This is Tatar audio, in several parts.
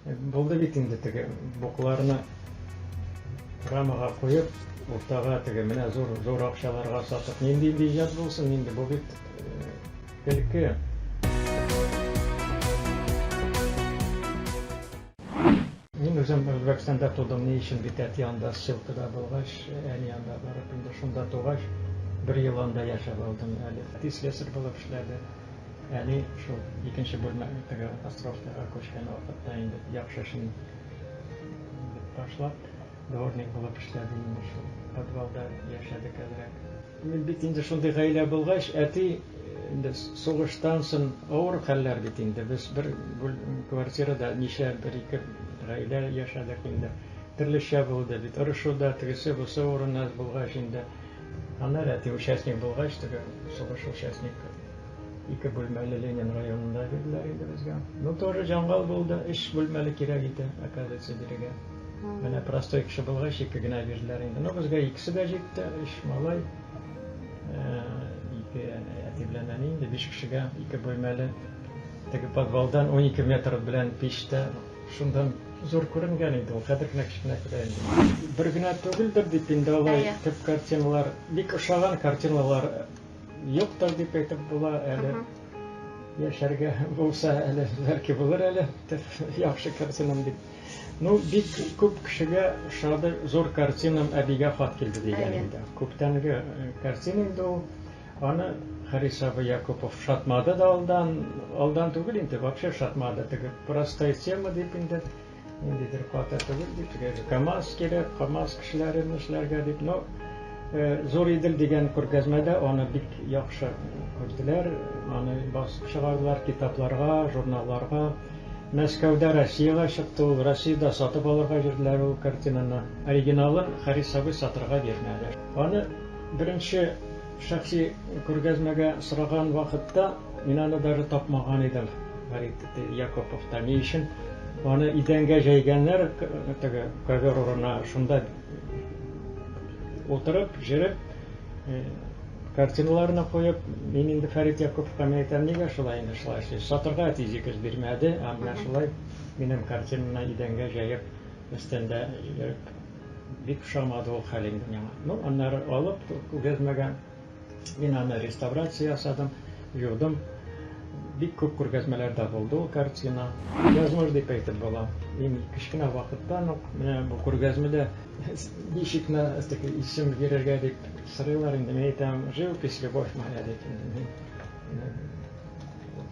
Булды бит инде теге букларны рамага куеп, уртага теге менә зур зур акчаларга сатып, нинди инде иҗат булсын инде, бу бит көлке. Мин үзем Үзбәкстанда тудым, ни өчен бит әти анда ссылкада булгач, әни анда барып инде шунда тугач, бер ел анда яшәп алдым әле. Әти слесарь булып эшләде. Әни шул икенче бүлмәгә теге островкага күчкән вакытта инде яхшы эшен ташлап, дворник булып эшләде инде шул. Подвалда яшәдек әзрәк. Мин бит инде шундый гаилә булгач, әти инде сугыштан соң авыр хәлләр бит инде. Без бер квартирада ничә бер-ике гаилә яшәдек инде. Төрлечә булды бит. Орышу да, тегесе бусы урыны булгач инде. Аны әти участник булгач, теге сугыш участник ике бүлмәле Ленин районында бирделәр инде безгә. Ну, тоже җангал булды, өч бүлмәле кирәк иде, оказывается, бирегә. Менә простой кеше булгач, ике генә бирделәр инде. Ну, безгә икесе дә җитте, өч малай. Э, ике әти белән әни инде биш кешегә ике бүлмәле теге подвалдан 12 метр белән пич тә Шунда зур күренгән инде ул, хәзер генә кечкенә күрә инде. Бер генә түгелдер дип инде алай төп картиналар, бик ошаган картиналар юктыр дип әйтеп була әле. Яшәргә булса әле, бәлки булыр әле, яхшы картинам дип. Ну, бик күп кешегә ошады, зур картинам әбигә хат килде дигән инде. Күптәнге картина инде ул. Аны Харис абый Якупов шатмады да алдан, алдан түгел инде, вообще шатмады, теге простая тема дип инде, ниндидер каты түгел дип, теге КАМАЗ кирәк, КАМАЗ кешеләрен эшләргә дип, но Зур Идел дигән күргәзмәдә аны бик яхшы күрделәр, аны басып чыгардылар китапларга, журналларга. Мәскәүдә Россиягә чыкты ул, Россиядә сатып алырга бирделәр ул картинаны. Оригиналын Харис абый сатырга бирмәде. Аны Беренче шәхси күргәзмәгә сораган вакытта мин аны даже тапмаган идем, Фәрит Якоповта. Ни өчен аны идәнгә җәйгәннәр, теге ковер урынына, шунда утырып, җырып, картиналарны куеп, мин инде Фәрит Якоповка мин әйтәм, нигә шулай инде шулай эшлисез? Сатырга әтиҗегез бирмәде, ә менә шулай минем картинаны идәнгә җәеп, өстендә йөреп, Бик ошамады ул хәл инде миңа. Ну, аннары алып күргәзмәгә мин аны реставрация ясадым, юдым. Бик күп күргәзмәләрдә булды ул картина. Язмыш дип әйтеп була. Мин кечкенә вакыттан ук менә бу күргәзмәдә ничек на такой исем бирергә дип сорыйлар инде. Мин әйтәм, живопись, любовь моя дип.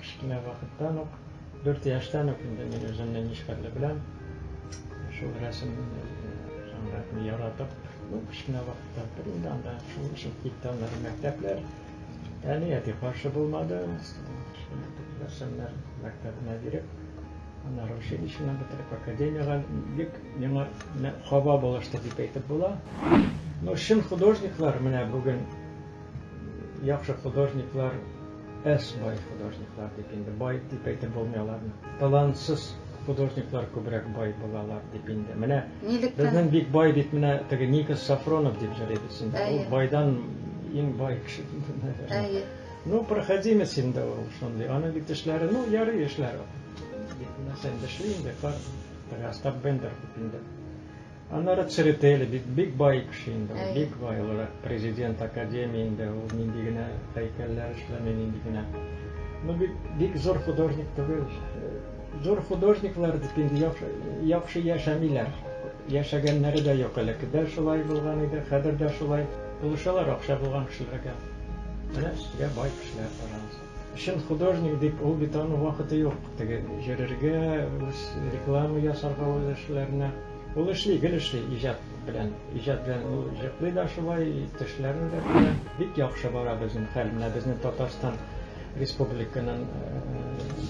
Кечкенә вакыттан ук Дүрт яшьтән үк инде мин үземне нечкәрле беләм. Шул рәсем сәнгатен яратып, ну, кечкенә вакытта инде анда шул өчен китте аннары мәктәпләр. Әни әти каршы булмады. Рәсемнәр мәктәбенә биреп, аннары училищены бетереп, академиягә бик миңа хаба булышты дип әйтеп була. Ну, чын художниклар менә бүген Яхшы художниклар әз, бай художниклар дип инде, бай дип әйтеп булмый аларны. Талантсыз художниклар күбрәк бай булалар дип инде. Менә безнең бик бай бит менә теге Никос Сафронов дип җырлыйбыз инде. Ул байдан иң бай кеше Әйе. Ну, проходимец инде ул шундый. Аның бит эшләре, ну, ярый эшләре. Бик нәрсә инде эшли инде, кар, Остап Бендер бит инде. Аннары Церетели бит бик бай кеше инде ул, бик бай ул президент академии инде ул нинди генә һәйкәлләр эшләми, нинди генә. Ну бит бик зур художник түгел. Зур художниклар дип инде яхшы, яхшы яшәмиләр. Яшәгәннәре дә юк әле. Дә шулай булган иде, хәзер дә шулай. Булышалар акча булган кешеләргә. Менә сезгә бай кешеләр, пожалуйста. Чын художник дип ул бит аның вакыты юк. Теге йөрергә, үз реклама ясарга үз эшләренә. Ул эшли, гел эшли иҗат белән. Иҗат белән ул җыклый да шулай, төшләрен дә белә. Бик яхшы бара безнең хәл. Менә безнең Татарстан республиканың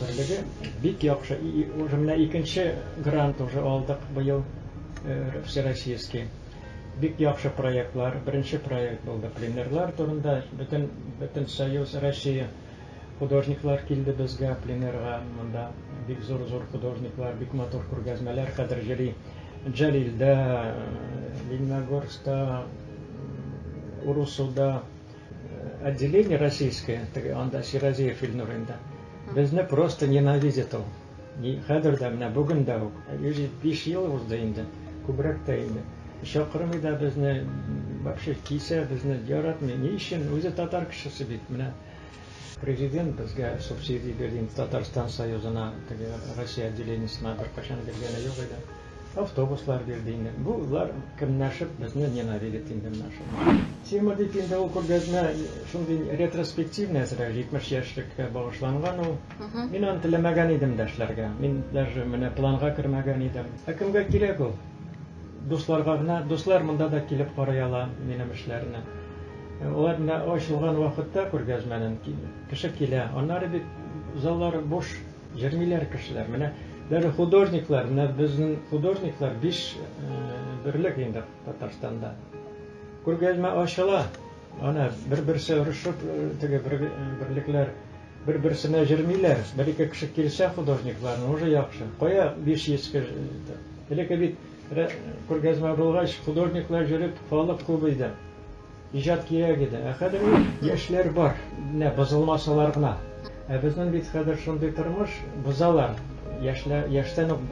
берлеге бик яхшы. И, уже менә икенче грант уже алдык быел всероссийский. Бик яхшы проектлар, беренче проект булды пленерлар турында, бөтен бөтен союз Россия художниклар килде безгә пленерга, монда бик зур-зур художниклар, бик матур күргәзмәләр хәзер җыри Җәлилдә, Лениногорскта, Урусуда отделение российское, теге анда Сиразиев Илнур инде. Безне просто ненавидит ул. И хәзер дә, менә бүген дә үк, 105 ел узды инде, күбрәк тә инде. Чакырмый да безне, вообще кисә безне, яратмый. Ни өчен? Үзе татар кешесе бит, менә президент безгә субсидия бирде инде Татарстан Союзына, теге Россия отделениесына беркайчан биргәне юк иде. Автобуслар бирде инде. Булар кемнәшеп безне ненавидит инде менә шул. Тема дип инде ул күргәзмә шундый ретроспективный әзрәк, 70 яшьлеккә багышланган ул. Мин аны теләмәгән идем дә эшләргә. Мин даже менә планга кермәгән идем. Ә кемгә кирәк ул? Дусларга гына. Дуслар монда да килеп карый ала минем эшләрне. Алар менә ачылган вакытта күргәзмәнен кеше килә. Аннары бит заллар буш, җырмиләр кешеләр. Менә даже художниклар, менә безнең художниклар биш берлек инде Татарстанда. Күргәзмә ачыла. Ана бер-берсе орышып, теге бер берлекләр бер-берсенә җермиләр. Бер ике кеше килсә художникларны уже яхшы. Кая 500 кеше? Элекке бит күргәзмә булгач, художниклар җөреп, халык күп иде. Иҗат кирәк иде. Ә хәзер яшьләр бар. Менә бозылмасалар гына. Ә безнең бит хәзер шундый тормыш, бозалар. Яшьләр яшьтән үк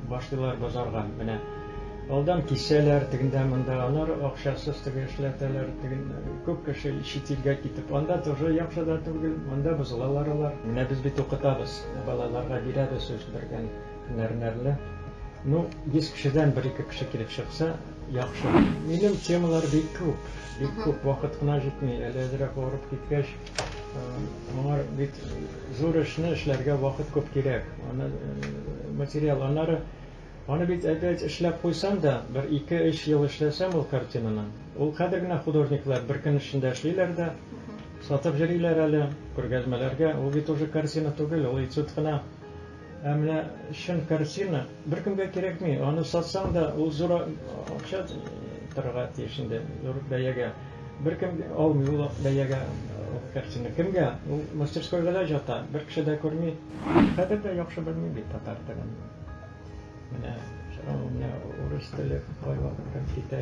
башлыйлар бозарга. Менә Алдан кисәләр, тегендә монда алар акчасыз теге эшләтәләр, теге күп кеше чит илгә китеп, анда тоже яхшы да түгел, монда бозылалар алар. Менә без бит укытабыз, балаларга бирәбез үз биргән һөнәрләрне. Ну, 100 кешедән бер-ике кеше килеп чыкса, яхшы. Минем темалар бик күп, бик күп, вакыт кына җитми. Әле әзрәк авырып киткәч, моңар бит зур эшне эшләргә вакыт күп кирәк. Аны материал, аннары Аны бит әпәт эшләп куйсам да, бер-ике өч ел эшләсәм ул картинаны, ул хәзер генә художниклар бер көн эчендә эшлиләр дә, сатып йөриләр әле, күргәзмәләргә, ул бит уже картина түгел, ул этюд кына. Ә менә чын картина беркемгә кирәкми, аны сатсаң да, ул зур акча торырга тиеш инде, зур бәягә. Беркем алмый ул бәягә ул картина. Кемгә? Ул мастерскойга да җата, бер кеше дә күрми. Хәзер дә яхшы белмим бит татар телен. Менә сорау менә урыс теле кайвакыт китә.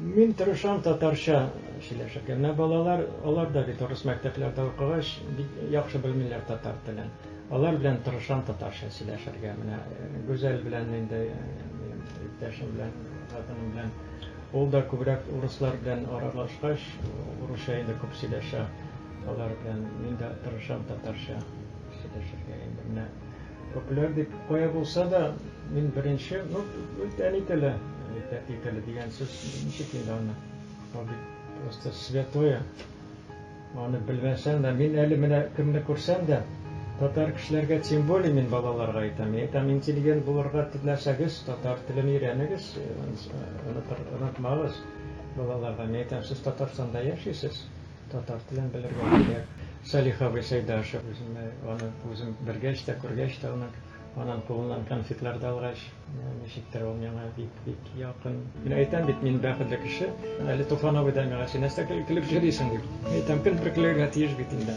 Мин тырышам татарча сөйләшергә. Менә балалар, алар да бит урыс мәктәпләрдә укыгач, бик яхшы белмиләр татар телен. Алар белән тырышам татарча сөйләшергә. Менә э, Гүзәл белән инде э, минем иптәшем белән, хатыным белән ул да күбрәк урыслар белән аралашкач, урысча инде күп сөйләшә. Алар белән мин дә тырышам татарча сөйләшергә инде. Менә Популяр дип кая булса да, мин беренче, ну, бит әни теле, бит әти теле дигән сүз, ничек инде аны, ул бит просто святое. Аны белмәсәң дә, мин әле менә кемне күрсәм дә, татар кешеләргә тем более мин балаларга әйтәм, мин әйтәм, интеллигент булырга теләсәгез, татар телен өйрәнегез, онытмагыз балаларга. Мин әйтәм, сез Татарстанда яшисез. Татар телен белергә кирәк. Салих абый Сәйдашев, үземне аны үзем белгәч тә, күргәч тә аны, анын кулыннан конфетлар да алгач, ничектер ул миңа бик бик якын. Мин әйтәм бит, мин бәхетле кеше. Әле Туфан абый да миңа, син нәрсә көлеп җөрисең дип. Әйтәм, кемдер көлергә тиеш бит инде.